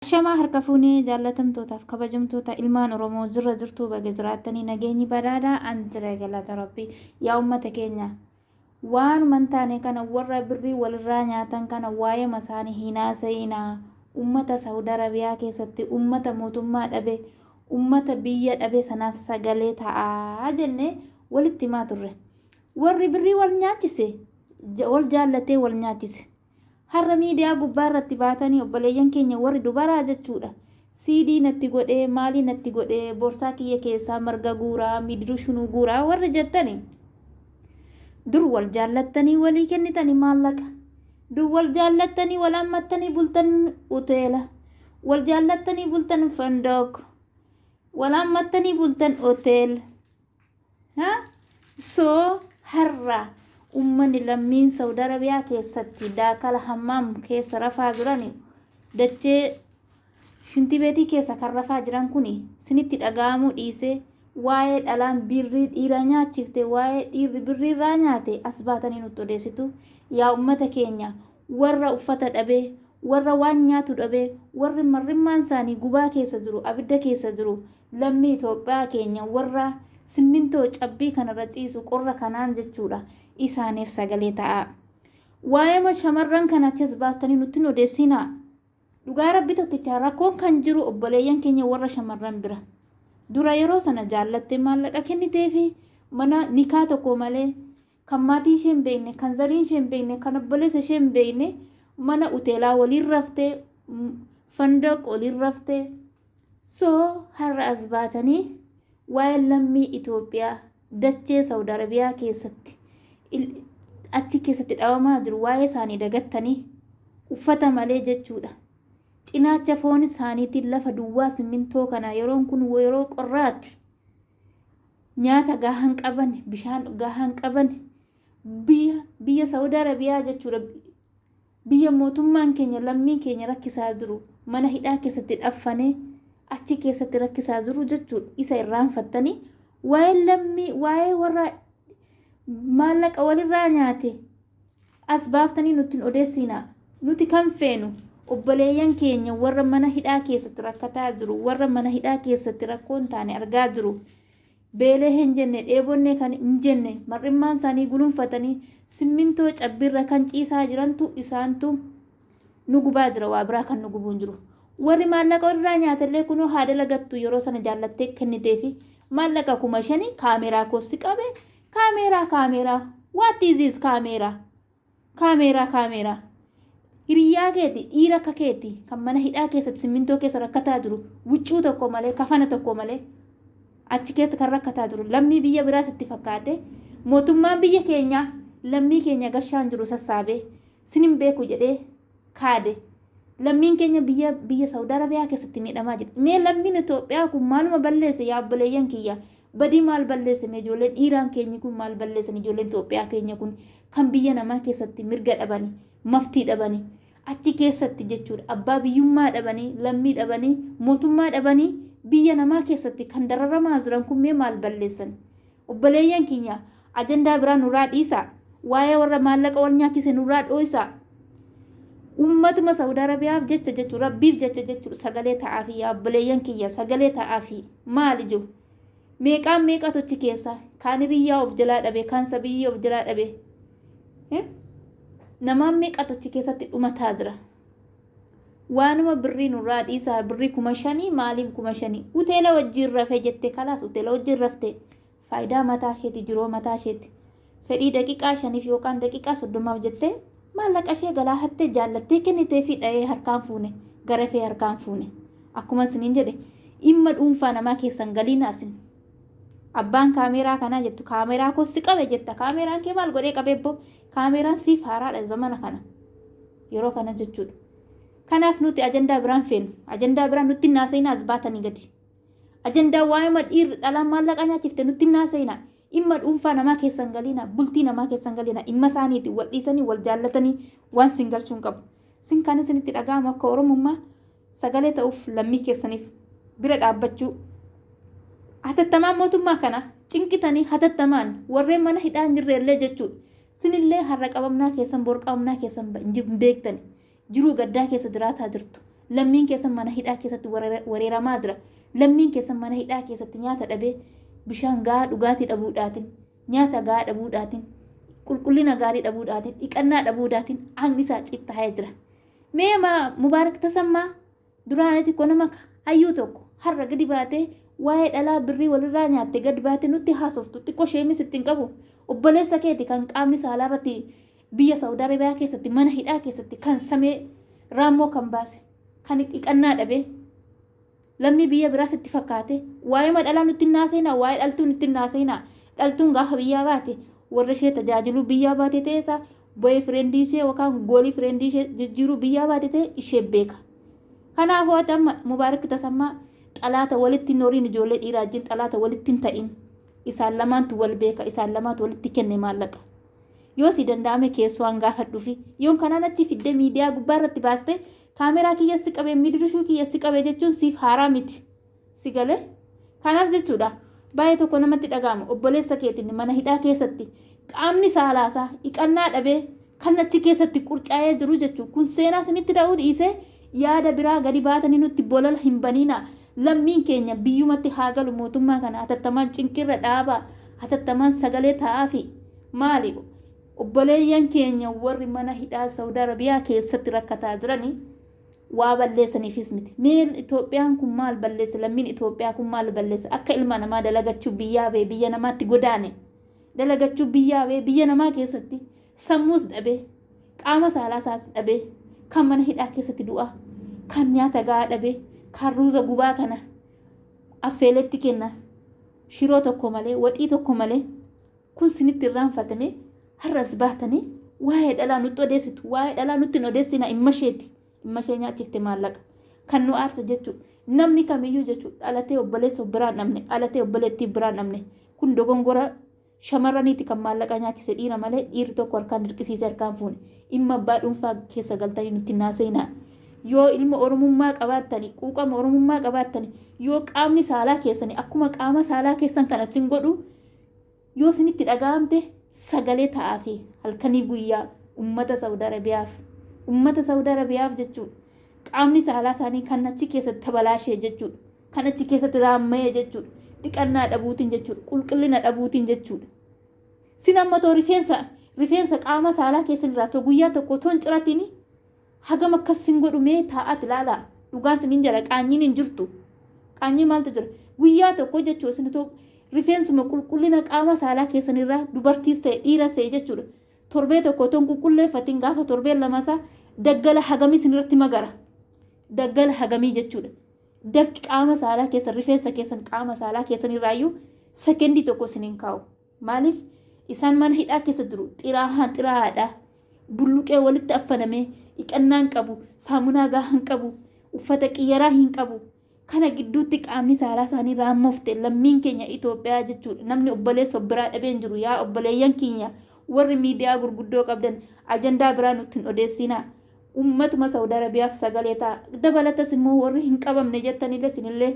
Ashamaa harka fuune jaallatamtootaaf kabajamtoota ilmaan oromoo jirra jirtuu baga jiraattanii nageenyi badhaadha an jira galata rabbii yaa ummata keenya waanuma hin taane kana warra birrii walirraa nyaatan kana waa'ee masaanii hin haasa'inaa ummata saawud arabiyaa keessatti ummata mootummaa dhabe ummata biyya dhabe sanaaf sagalee ta'aa jennee walitti himaa turre warri birrii wal nyaachise wal jaallatee wal nyaachise Har'a miidiyaa gubbaa irratti baatanii obboleeyyan keenya warri dubaraa jechuudha CD natti godhee maalii natti godhee borsaa kiyya keessaa marga guuraa miidru shunuu guuraa warri jettani dur wal jaallattanii walii kennitani maallaqa dur wal jaallattanii wal ammattanii bultan uteela wal jaallattanii bultan fandook wal ammattanii bultan oteel Ha? Soo har'a ummanni lammiin Saudi Arabiyaa keessatti daakala hammaam keessa rafaa jiran dachee shintibeetii keessa kan rafaa jiran kun sinitti dhaga'amuu dhiisee waa'ee dhalaan birrii dhiiraa nyaachifte waa'ee dhiirri birrii irraa nyaate as baatanii nutti odeessitu yaa ummata keenya Warra uffata dhabe, warra waan nyaatu dhabe, warri mar'immaan isaanii gubaa keessa jiru, abidda keessa jiru, lammii Itoophiyaa keenya warra simmintoo cabbii kana irra ciisu qorra kanaan jechuudha, isaaniif sagalee ta'aa. Waa'eema shamarran kana achas baastanii nutti hin odeessinaa. Dhugaa Rabbi tokkicha rakkoon kan jiru obboleeyyan keenya warra shamarran bira. Dura yeroo sana jaallattee maallaqa kenniteefi mana nikaa tokko malee kan maatii ishee hin beekne, kan zarii ishee hin beekne, kan obboleessa ishee hin beekne mana uteelaa waliin raftee, mm, fandaq waliin raftee. So har'a as baatanii waa'ee lammii Itoophiyaa dachee Saawud Arabiyaa keessatti il- achi keessatti dhabamaa jiru waa'ee isaanii dagattanii uffata malee jechuudha. Cinaacha foon isaaniitiin lafa duwwaa simmintoo kana yeroon kun yeroo qorraati. nyaata gahaa hin qaban bishaan gahaa hin qaban biyya biyya saudi arabiyaa jechuudha biyya mootummaan keenya lammiin keenya rakkisaa jiru mana hidhaa keessatti dhaffanee achi keessatti rakkisaa jiru jechuudha isa irraanfattanii waa'ee lammii waa'ee warra maallaqa walirraa nyaate As baaftanii nutti hin odeessiinaa. Nuti kan feenu obboleeyyan keenya warra mana hidhaa keessatti rakkataa jiru, warra mana hidhaa keessatti rakkoo hin taane argaa jiru. Beelee hin jenne, dheebonnee kan hin jenne, mar'immaan isaanii gulunfatanii simmintoo cabbiirra kan ciisaa jirantu isaantu nu gubaa jira waa biraa kan nu gubuu hin jiru. Warri maallaqa irraa nyaatellee kunoo haa dalagattu yeroo sana jaallattee kenniteefi maallaqa kuma shanii kaameeraa koosti qabe Kaameeraa kaameeraa what is this kaameeraa kaameeraa kaameeraa hiriyyaa keeti dhiira akka keeti kan mana hidhaa keessatti simmintoo keessa rakkataa jiru wuccuu tokko malee kafana tokko malee achi keessa kan rakkataa jiru lammii biyya biraas itti fakkaate mootummaan biyya keenyaa lammii keenya gashaan jiru sassaabee sinin beeku jedhee kaade. Lammiin keenya biyya biyya Saudi Arabiyaa keessatti miidhamaa jirti. Mee lammiin Itoophiyaa kun maaluma balleesse yaa obboleeyyan kiyya? Badii maal balleesse mee ijoolleen dhiiraan keenyi kun maal balleessan ijoolleen Itoophiyaa keenya kun kan biyya namaa keessatti mirga dhabani maftii dhabani achi keessatti jechuudha abbaa biyyummaa dhabanii lammii dhabanii mootummaa dhabanii biyya namaa keessatti kan dararamaa jiran kun mee maal balleessan Obboleeyyan kiyya, ajandaa biraa nurraa dhiisaa. Waa'ee warra maallaqa wal nyaachise nurraa dhooysaa. Ummatuma Sa'ud Arabiyaaf jecha jechuun, Rabbiif jecha jechuun sagalee ta'aafii yaa obboleeyyan kiyya, sagalee ta'aafii. Maal ijoo? Meeqaan meeqatu achi keessa? Kaan hiriyyaa of jalaa dhabe, kaan sabiyyii of jalaa dhabe. Namaan meeqatu achi keessatti dhumataa jira? waanuma birrii nurraa dhiisaa birrii kuma shanii maaliin kuma shanii uteela wajjiin rafee jette kalaas uteela wajjiin rafte faayidaa mataa isheeti jiroo mataa isheeti fedhii daqiqaa shaniif yookaan daqiqaa soddomaaf jette maallaqa ishee galaa hattee jaallattee kennitee fi dha'ee harkaan fuune garafee harkaan fuune akkuma isiniin jedhe dhimma dhuunfaa namaa keessan galiin asin abbaan kaameeraa kanaa jettu kaameeraa koo si qabe jetta kaameeraan kee maal godhee qabeebbo kaameeraan siif haaraadha zamana kana. yeroo kana jechuudha. Kanaaf nuti ajandaa biraan feenu. Ajandaa biraan nutti hin haasa'ina as baatanii gadi. Ajandaa waa'ima dhiirri dhalaan maallaqa nyaachifte nutti hin haasa'ina. Dhimma dhuunfaa namaa keessan galiina, bultii namaa keessan galiina, dhimma isaaniiti wal dhiisanii wal jaallatanii waan sin galchuun qabu. Sin kan isinitti dhaga'amu akka Oromummaa sagalee ta'uuf lammii keessaniif bira dhaabbachuu hatattamaan mootummaa kana cinqitanii hatattamaan warreen mana hidhaa hin jirre illee jechuudha. Sinillee har'a qabamnaa keessan bor qabamnaa keessan hin beektani. Jiruu gaddaa keessa jiraataa jirtu. Lammiin keessan mana hidhaa keessatti wareeramaa jira. Lammiin keessan mana hidhaa keessatti nyaata dhabee bishaan gahaa dhugaatii dhabuudhaatiin nyaata gahaa dhabuudhaatiin qulqullina gaarii dhabuudhaatiin dhiqannaa dhabuudhaatiin aangni isaa cittaa'ee jira. Mee ma Mubaarak Tasammaa duraanii xiqqoo nama ka hayyuu tokko har'a gadi baatee waa'ee dhalaa birrii walirraa nyaatte gad baate nutti haasoftu xiqqoo sheemis itti hin qabu obboleessa keeti kan qaamni saalaa irratti biyya Saawud Arabiyaa keessatti mana hidhaa keessatti kan samee raammoo kan baase kan dhiqannaa dhabee Lammii biyya biraa sitti fakkaatee? Waa'eema dhalaa nutti hin haasa'inaa, waa'ee dhaltuu nutti hin haasa'inaa. Dhaltuun gaafa biyyaa baate, warra ishee tajaajiluu biyyaa baate ta'ee isaa, boy friend ishee yookaan goolii friend ishee jijjiiruu biyyaa baate ta'e ishee beeka. Kanaafuu ati amma Mubaarak Tasammaa xalaata walitti hin horiin ijoollee dhiiraa wajjin xalaata walitti hin ta'in. Isaan lamaantu wal beeka, isaan lamaatu walitti kenne maallaqa. Yoo si danda'ame keessoo an gaafadhuufi yoon kanaan achi fiddee miidiyaa gubbaa irratti baaste Kaameraa kiyya si qabe, midirishuu kiyya si qabe jechuun siif haaraa miti. Si galee? Kanaaf jechuudha baay'ee tokko namatti dhaga'ama obboleessa keetiin mana hidhaa keessatti qaamni saalaasaa dhiqannaa dhabee kan achi keessatti qurcaa'ee jiru jechuudha. Kun seenaa isinitti ta'uu dhiisee yaada biraa gadi baatanii nutti bolola hin baniinaa. Lammiin keenya biyyumatti haa galu mootummaa kana hatattamaan cinqirra dhaabaa hatattamaan sagalee ta'aafi maali Obboleeyyan keenya warri mana hidhaa Saudi Arabia keessatti rakkataa jirani waa balleesaniifis miti. Mee Itoophiyaan kun maal balleesse lammiin Itoophiyaa kun maal balleesse akka ilma namaa dalagachuu biyyaa ba'e biyya namaatti godaane dalagachuu biyyaa ba'e biyya namaa keessatti sammuus dhabee qaama saalaa isaas dhabee kan mana hidhaa keessatti du'aa kan nyaata gahaa dhabee kan ruuza gubaa kana affeeletti kenna shiroo tokko malee waxii tokko malee Kun sinitti irraanfatamee har'a as baatanii waa'ee dhalaa nutti odeessitu. Waa'ee dhalaa nutti hin odeessinaa immasheeti. Immashee nyaachifte maallaqa. Kan nu aarsa jechuu. Namni kamiyyuu jechuu dhalatee obboleessa of biraan dhabne dhalatee obboleettii biraan dhabne kun dogongora shamarraniiti kan maallaqa nyaachise dhiira malee dhiirri tokko harkaan dirqisiise harkaan fuune dhimma abbaa dhuunfaa keessa galtanii nutti hin haasa'inaa. Yoo ilma oromummaa qabaattani quuqama oromummaa qabaattani yoo qaamni saalaa keessani akkuma qaama saalaa keessan kana sin godhu Yoo isinitti dhaga'amte sagalee ta'aafii halkanii guyyaa ummata Saudi Arabiyaaf. Ummata Saudi Arabiyaaf jechuun qaamni saalaa isaanii kan achi keessatti tabalaashee jechuudha. Kan achi keessatti raammayee jechuudha. Dhiqannaa dhabuutiin jechuudha. Qulqullina dhabuutiin jechuudha. Sin amma too rifeensa rifeensa qaama saalaa keessan irraa too guyyaa tokko too hin ciratini Hagam akkas sin godhu mee taa'aat ilaalaa. Dhugaan sinin jedha qaanyiin hin jirtu. Qaanyii maaltu jira? Guyyaa tokko jechuudha isin otoo rifeensuma qulqullina qaama saalaa keessanirraa dubartiis ta'e dhiiras ta'e jechuudha. Torbee tokko otoo hin qulqulleeffatiin gaafa torbeen lamasaa daggala hagamii isinirratti magara. Daggala hagamii jechuudha. Dafqi qaama saalaa keessan rifeensa keessan qaama saalaa keessanirraayyuu sekendii tokko isin hin kaa'u. Maaliif isaan mana hidhaa keessa jiru. Xiraahaan xiraahaadha. Bulluqee walitti affanamee dhiqannaa hin qabu, saamunaa gahaa hin qabu, uffata qiyyaraa hin qabu. Kana gidduutti qaamni saalaa isaanii raammofte lammiin keenya Itoophiyaa jechuudha. Namni obboleessa of biraa dhabee hin jiru. Yaa obboleeyyan keenya warri miidiyaa gurguddoo qabdan ajandaa biraa nutti hin odeessiinaa. Ummatuma Saudi Arabiyaaf sagalee ta'a. Dabalatas immoo warri hin qabamne jettanillee isinillee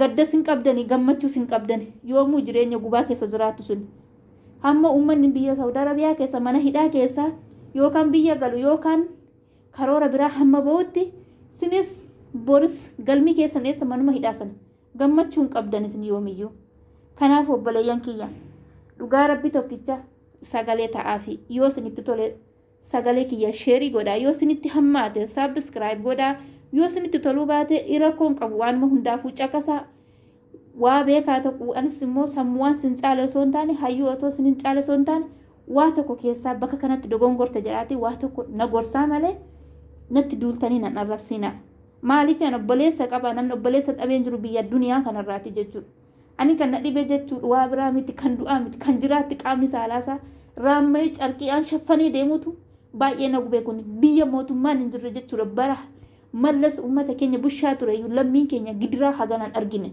gaddas hin qabdani gammachuus hin qabdani. Yoomuu jireenya gubaa keessa jiraattu isin. Hamma ummanni biyya Saudi Arabiyaa keessa mana hidhaa keessaa yookaan biyya galu yookaan karoora biraa hamma ba'utti isinis boris galmi keessan eessa manuma hidhaa sana gammachuu hin qabdan isin yoomiyyuu. Kanaaf obboleeyyan kiyya dhugaa rabbi tokkicha sagalee ta'aafi yoo isinitti tole Sagalee kiyya sheri godhaa yoo sinitti hammaate subscribe godhaa yoo sinitti toluu baate irakkoon qabu waanuma hundaafuu caqasaa waa beekaa tokko anis immoo sammuwaan sin caale osoo hin taane hayyuu otoo sin hin caale osoo hin taane waa tokko keessaa bakka kanatti dogongorta jedhaati waa tokko na gorsaa malee natti duultanii nan arrabsiinaa maaliif an obboleessa qaba namni obboleessa dhabeen jiru biyya duniyaa kanarraati jechuudha Ani kan na dhibe jechuudha waa biraa miti kan du'aa miti kan jiraatti qaamni saalaa isaa raamma'ee carqiidhaan shaffanee deemutu baay'ee na gubee kun biyya mootummaan hin jirre jechuudha bara mallas uummata keenya bushaa ture lammiin keenya gidiraa haganaan argine.